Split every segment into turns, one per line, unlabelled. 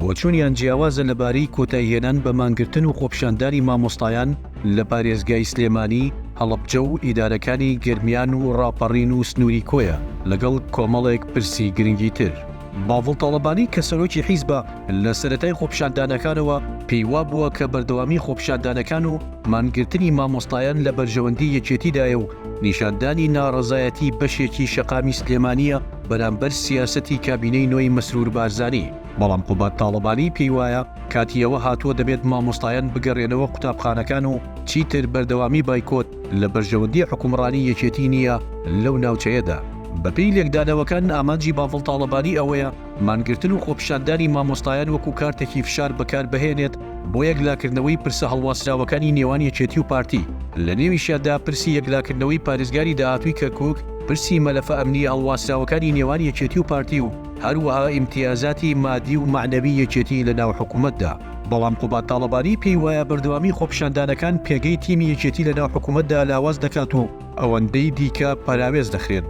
بۆچوونیان جیاوازە لەبارەی کۆتایهێنان بە مانگرتن و خۆپیشاندانی مامۆستایان لە پارێزگای سلێمانی، هەڵەبجە و ئیدارەکانی گەرمیان و ڕاپەڕین و سنووری کۆیە، لەگەڵ کۆمەڵێک پرسی گرنگی تر. باڤڵ تاڵەبانی کە سەرۆکی حیزبە، لە سەرەتای خۆپیشاندانەکانەوە پێی وابووە کە بەردەوامی خۆپیشاندانەکان و مانگرتنی مامۆستایان لە بەرژەوەندی یەکێتیدایە و نیشاندانی ناڕەزایەتی بەشێکی شەقامی سلێمانییە بەرامبەر سیاسەتی کابینەی نۆی مەسرور بارزانی، بەڵام قوباد تاڵەبانی پێی وایە کاتی ئەوە هاتووە دەبێت مامۆستایان بگەرێنەوە قوتابخانەکان و چیتر بەردەوامی بایکۆت لە بەرژەوەندی حکومڕانی یەکێتی نییە لەو ناوچەیەدا. بەپێی لێکدانەوەکان ئامانجی باڤڵ تاڵەبانی ئەوەیە مانگرتن و خۆپیشاندانی مامۆستایان وەکو کارتێکی فشار بەکاربهێنێت بۆ یەکلاکردنەوەی پرسە هەڵواسراوەکانی نێوان یەکێتی و پارتی، لە نێویشیاندا پرسی یەکلاکردنەوەی پارێزگاری داهاتووی کەرکووک، پرسی مەلەفە ئەمنییە هەڵواسراوەکانی نێوان یەکێتی و پارتی و هەروەها ئیمتیازاتی مادی و مەعنەوی یەکێتی لە ناو حکوومەتدا. بەڵام قوباد تاڵەبانی پێی وایە بەردەوامی خۆپیشاندانەکان پێگەی تیمی یەکێتی لە ناو حکوومەتدا لاواز دەکات و، ئەوەندەی دیکە پەراوێز دەخرێن.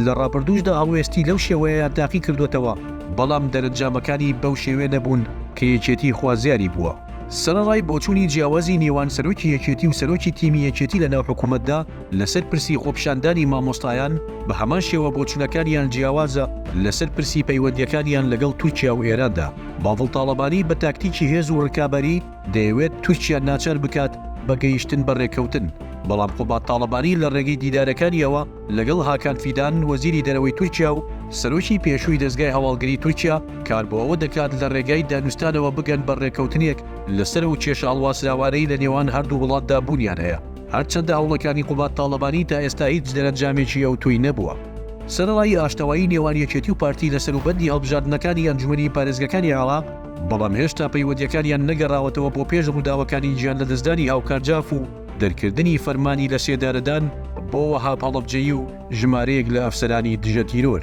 لە ڕابردووشدا هەڵوێستی لەو شێوەیەیان تاقی کردووەتەوە، بەڵام دەرەنجامەکانی بەو شێوەیە نەبوون کە یەکێتی خوازیاری بووە. سەرەڕای بۆچوونی جیاوازی نێوان سەرۆکی یەکێتی و سەرۆکی تیمی یەکێتی لەناو حکوومەتدا لەسەر پرسی خۆپیشاندانی مامۆستایان، بە هەمان شێوە بۆچوونەکانیان جیاوازە لەسەر پرسی پەیوەندییەکانیان لەگەڵ تورکیا و ئێراندا. باڤڵ تاڵەبانی بە تاکتیکی هێز و ڕکابەری، دەیەوێت تورکیا ناچار بکات بە گەیشتن بە رێککەوتن، بەڵام قوباد تاڵەبانی لە رێگەی دیدارەکانییەوە لەگەڵ هاکان فیدان وەزیری دەرەوەی تورکیا و سەرۆکی پێشووی دەزگای هەواڵگری تورکیا کار بۆ ئەوە دەکات لە رێگای دانوستانەوە بگەن بە رێککەوتنێک لەسەر ئەو کێشە هەڵواسراوانەی لە نێوان هەردوو وڵاتدا بوونیان هەیە، هەرچەندە هەوڵەکانی قوباد تاڵەبانی تا ئێستا هیچ دەرەنجامێکی ئەوتۆی نەبووە. سەرەڕای ئاشتەوایی نێوان یەکێتی و پارتی لە سەروبەندی هەڵبژاردنەکانی ئەنجومەنی پارێزگەکانی عێراق، بەڵام هێشتا پەیوەندییەکانیان نەگەڕاوەتەوە بۆ پێش ڕووداوەکانی گیانلەدەستدانی هاوکار جاف و دەرکردنی فەرمانی لەسێدارەدان بۆ وەهاب هەڵەبجەیی و ژمارەیەک لە ئەفسەرانی دژە تیرۆر.